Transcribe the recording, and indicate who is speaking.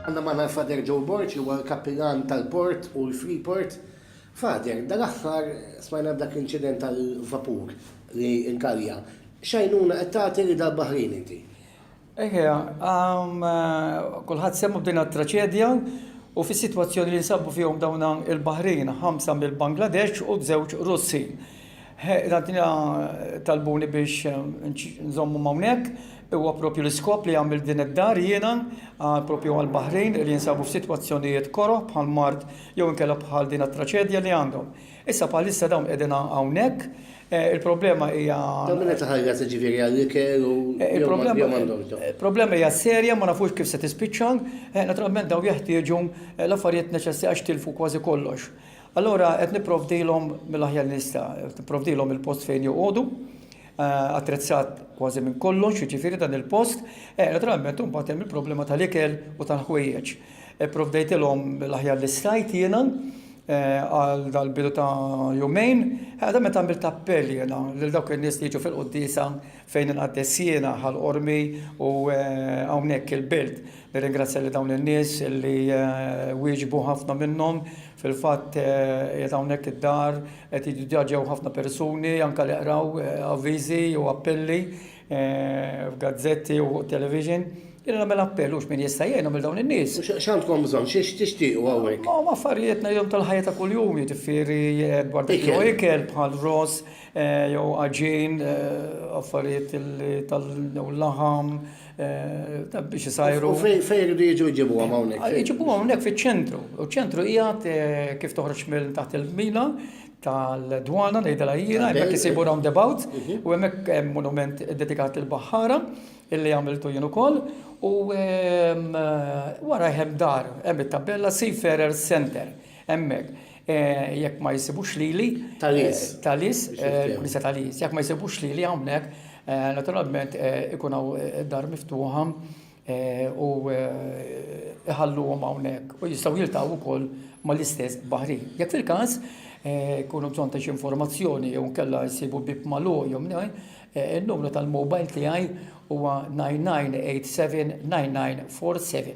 Speaker 1: Għandna magħna l-Father Joe Borg li huwa l-Kappillan tal-Port u l-Freeport. Father, dal-aħħar smajna b'dak l-inċident tal-vapur li nkalja. X'għajnuna qed tagħti li dal-baħrin inti? Eħe,
Speaker 2: kulħadd semmu b'din it-traċedja u fis-sitwazzjoni li nsabu fihom dawn il-baħrin, ħamsa mill-Bangladesh u żewġ Russi. Ħaddina talbuni biex nżommhom hawnhekk, huwa proprju l-iskop li għamilt din id-dar jiena proprju għall-baħrin li jinsabu f'sitwazzjonijiet koroh bħal mard jew inkella bħal din it-traċedja li għandhom. Issa bħalissa dawn qegħdin hawnhekk, il-problema hija. Dawn minn qed iħallas
Speaker 1: jiġifieri għall-ikel u jew m'għandhomx dawn?
Speaker 2: Il-problema hija serja ma nafux kif se tispiċċa, naturalment dawn jeħtieġu l-affarijiet neċessarji għax tilfu kważi kollox. Allura qed nipprovdilhom mill-aħjar li nista', qed nipprovdilhom il-post fejn joqogħdu, attrezzat kważi minn kollox, jiġifieri dan il-post. Eh, naturalment imbagħad hemm il-problema tal-ikel u tal-ħwejjeġ. Ipprovdejtilhom l-aħjar li stajt jiena eh, għal dal-bidu ta' jumejn, għadha meta għamilt appell jiena lil dawk in-nies li jiġu fil-quddiesa fejn inqaddes jiena ħal-qormi u eh, hawnhekk il-birt. Nirringrazzja lil dawn in-nies li wieġbu ħafna minnhom. Fil-fatt qiegħed hawnhekk id-dar qed jiġu diġà ġew ħafna persuni anke li qraw avviżi jew appelli f'gazzetti u fuq it-television. Jiena nagħmel appell u x'min jista' jgħinhom lil dawn in-nies. X'għandkom bżonn?
Speaker 1: X'tixtiequ hawnhekk? Huma affarijiet ngħidilhom
Speaker 2: tal-ħajja ta' kuljum, jiġifieri dwar dak li huwa ikel bħal ross jew għaġin, affarijiet li tal-laħam. biex isajru. Fejn irridu
Speaker 1: jiġu jġibu għam hawnhekk? Ah, jġibu hawnhekk fiċ-ċentru.
Speaker 2: U ċentru qiegħed eh, kif toħroġ minn taħt il-mina tal-dwana li dela jira, hemmhekk isibu roundabout mhm. u hemmhekk hemm monument dedikat il-baħħara illi għamiltu jien ukoll u ehm, eh, wara hemm dar hemm it-tabella Seafarer Center Hemmhekk, jekk ma jsibux lili. Talis. Talis, il-Knisja Talis. Jekk ma jsibux lili hawnhekk, naturalment ikun hawn dar miftuħa u iħalluhom hawnhekk u jistgħu jiltaqgħu wkoll mal-istess baħri. Jekk fil-każ jkunu bżonn ta' xi informazzjoni jew inkella jsibu bieb magħluq jew mnejn, in-numru tal-mobile tiegħi huwa 9987 9947.